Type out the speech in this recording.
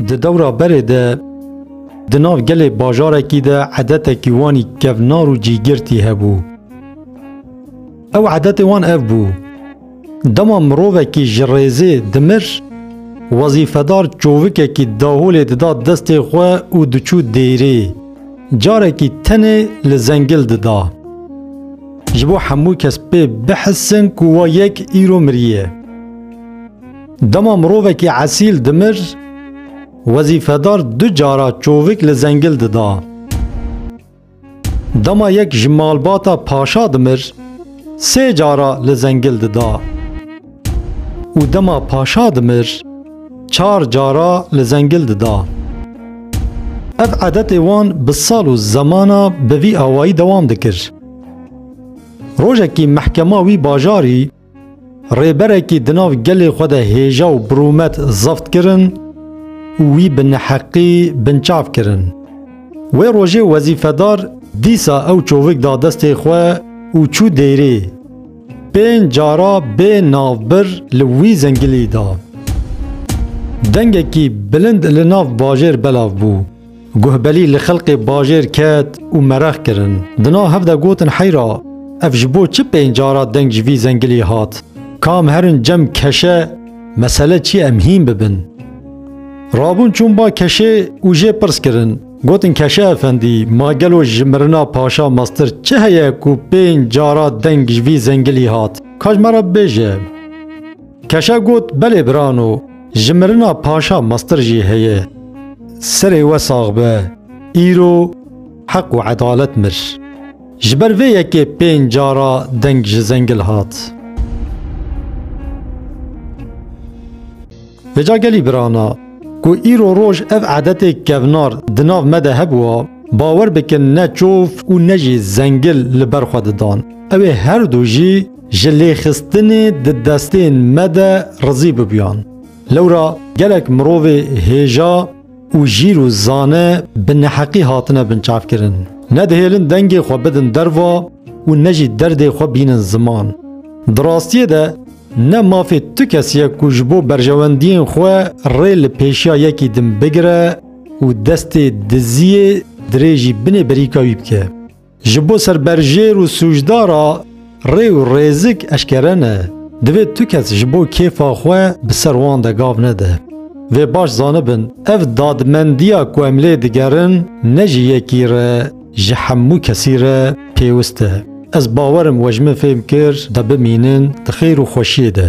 Di dewra berê de di nav gelê bajarekî de edetekî wanî kevnar û cîgirtî hebû. Ew edetê wan ev bû. Dema mirovekî ji rêzê dimir, wezîfedar çovikekî daholê dida destê xwe û diçû dêrê. Carekî tenê li zengil dida. Ji bo hemû kes pê bihsin ku wa yek îro miriye. Dema mirovekî esîl dimir, wezîfedar du cara çovik li zengil dida. Dema yek ji malbata paşa dimir, sê cara li zengil dida. Û dema paşa dimir, çar cara li zengil dida. Ev edetê wan bi sal û zemana bi vî awayî dewam dikir. Rojekî mehkema wî bajarî rêberekî di nav gelê xwe de hêja û birûmet zebt kirin û wî bi neheqî binçav kirin. Wê rojê wezîfedar dîsa ew çovik da destê xwe û çû dêrê. Pênc cara bê navbir li wî zengilî da. Dengekî bilind li nav bajêr belav bû. Guhbelî li xelkê bajêr ket û merex kirin. Di nav hev de gotin heyra ev ji bo çi pênc cara deng ji vî zengilî hat? Kam herin cem keşe mesele çi ye em hîn bibin. Rabûn çûn ba keşê û jê pirs kirin. Gotin Keşe Efendî, ma gelo ji mirina paşa mestir çi heye ku pênc cara deng ji vî zengilî hat? Ka ji me re bibêje. Keşe got, Belê birano, ji mirina paşa mestir jî heye. Serê we sax be, îro heq û edalet mir. Ji ber vê yekê pênc cara deng ji zengil hat. Vêca gelî birana, ku îro roj ev edetê kevnar di nav me de hebûa, bawer bikin ne çov û ne jî zengil li ber xwe didan. Ew ê her du jî ji lêxistinê di destên me de rizî bibûyan. Lewra gelek mirovê hêja û jîr û zane bi neheqî hatine binçavkirin. Ne dihêlin dengê xwe bidin derva û ne jî derdê xwe bînin ziman. Di rastiyê de, Ne mafê tu kes ye ku ji bo berjewendiyên xwe rê li pêşiya yekî din bigire û destê diziyê dirêjî binê berîka wî bike. Ji bo serberjêr û sûcdar re rê û rêzik eşkere ne. Divê tu kes ji bo kêfa xwe bi ser wan de gav nede. Vê baş zanibin, ev dadmendiya ku em lê digerin ne ji yekî re, Ji hemû kesî re pêwist e. Ez bawer im we ji min fêm kir de bimînin di xêr û xweşiyê de.